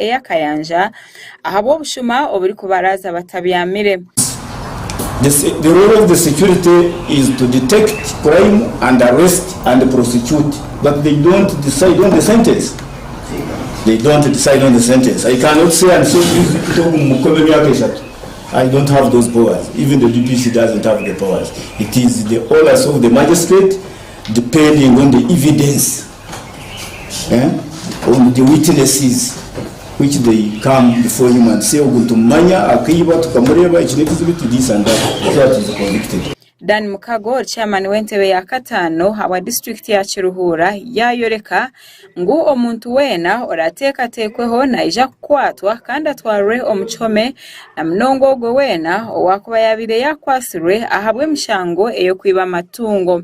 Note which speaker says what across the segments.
Speaker 1: ey'akayanja ahabw'obushuma oburikubaraaza
Speaker 2: batabyamire. eh, on the witnesses which they come before him and say ogu nitumumanya akaiba tukamureeba eki n'ekizibu eki this and that so that is convicted Dan Mukago
Speaker 1: ori chairman w'entebe ya kataano habwa district ya Kiruhuura yayoreka ngu omuntu weena orateekateekweho naija kukwatwa kandi atwarwe omu kihome na munonga ogwo weena owaakuba yaabaire yakwatsirwe ahabw'emishango ey'okwiba amatungo.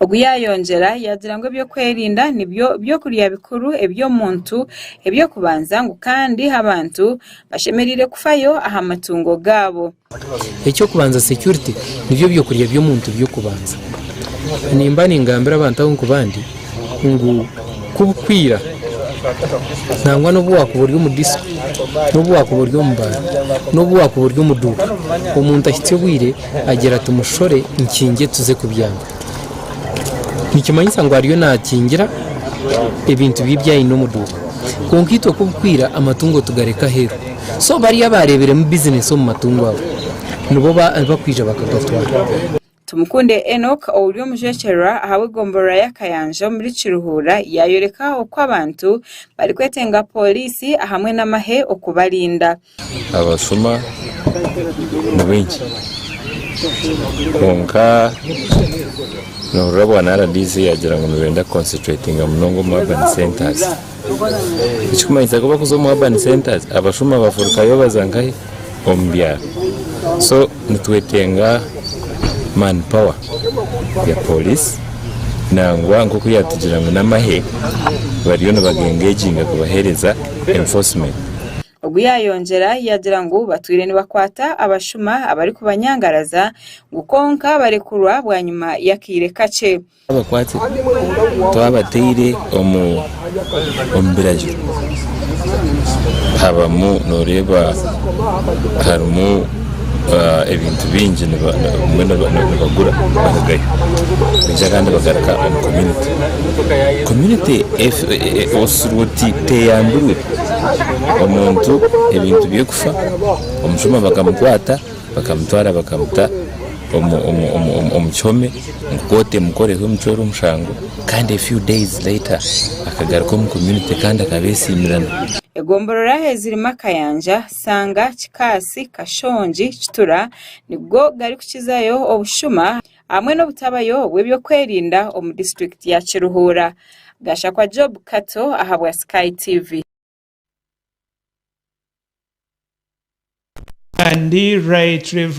Speaker 3: Ogu yaayongyera
Speaker 1: yaagira ngu eby'okwerinda nibyo by'okurya bikuru eby'omuntu eby'okubanza ngu kandi abantu bashemereire kufayo aha matungo gaabo. Eky'okubanza,
Speaker 4: security, nibyo by'okurya by'omuntu by'okubanza. Nimba ningambira abantu ahu nkubandi ngu ku bukwiira nangwa n'obu waakuba ori omu disiko, n'obu waakuba ori omu baara, n'obu waakuba ori omu duuka, omuntu ahitsya obwire, Agira ati, Mushore nkingye tuze kubyama. Nikimanyisa ngu ariyo naakingira ebintu bye ebi aine omu duuka. Kwonka itwe ku birikwira amatungo tugareka aheeru. So bariya abaareeberemu bizineesi omu matungo ago, nibo abarikwija bakagatwara. Tumukunde
Speaker 1: Enock ouri omujwekyerwa ahabw'egomborora ya Kayanja omuri Kiruhura yaayoreka oku abantu barikwetenga pooriisi ahamwe n'amahe okubarinda. Abashuma
Speaker 5: ni baingi kwonka nohurira bwa RDC yagira ngu nibenda ku concentratinga munonga omu urban centres ekirikumanyisa ku bakuza omu urban centres abashuma bafurikayo baza nkahi omu byaro so nitwetenga man power ya police nangwa nkoku yatugira ngu namahe bariyo nibaga engaginga kubahereza enforcement. Ogu
Speaker 1: yaayongyera yaagira ngu batwire nibakwata abashuma abarikubanyangaraza ngu kwonka barekurwa bwanyima y'akaire kakye. Twabakwata
Speaker 5: twabataire omu biragiro habamu nooreeba harimu ebintu bingi nibagura barugayo kwonka kandi bagaruka omu community, community oshusha oti teyambirwe omuntu ebintu bye kufa, omushuma bakamukwata bakamutwara bakamuta omu kihome ngu kooti emukoreho emucwere omushango kandi a few days later akagaruka omu community kandi akaba esiimirana. Egomborora
Speaker 1: eziri Makayanja, Sanga, Kikaasi, Kashongi, Kitura nigo garikukizayo obushuma hamwe n'obutabayo bw'ebyokwerinda omu disiturikiti ya Kiruhura. Gashakwa Job Kato ahabwa Sky TV.
Speaker 6: Kandi Right Rev.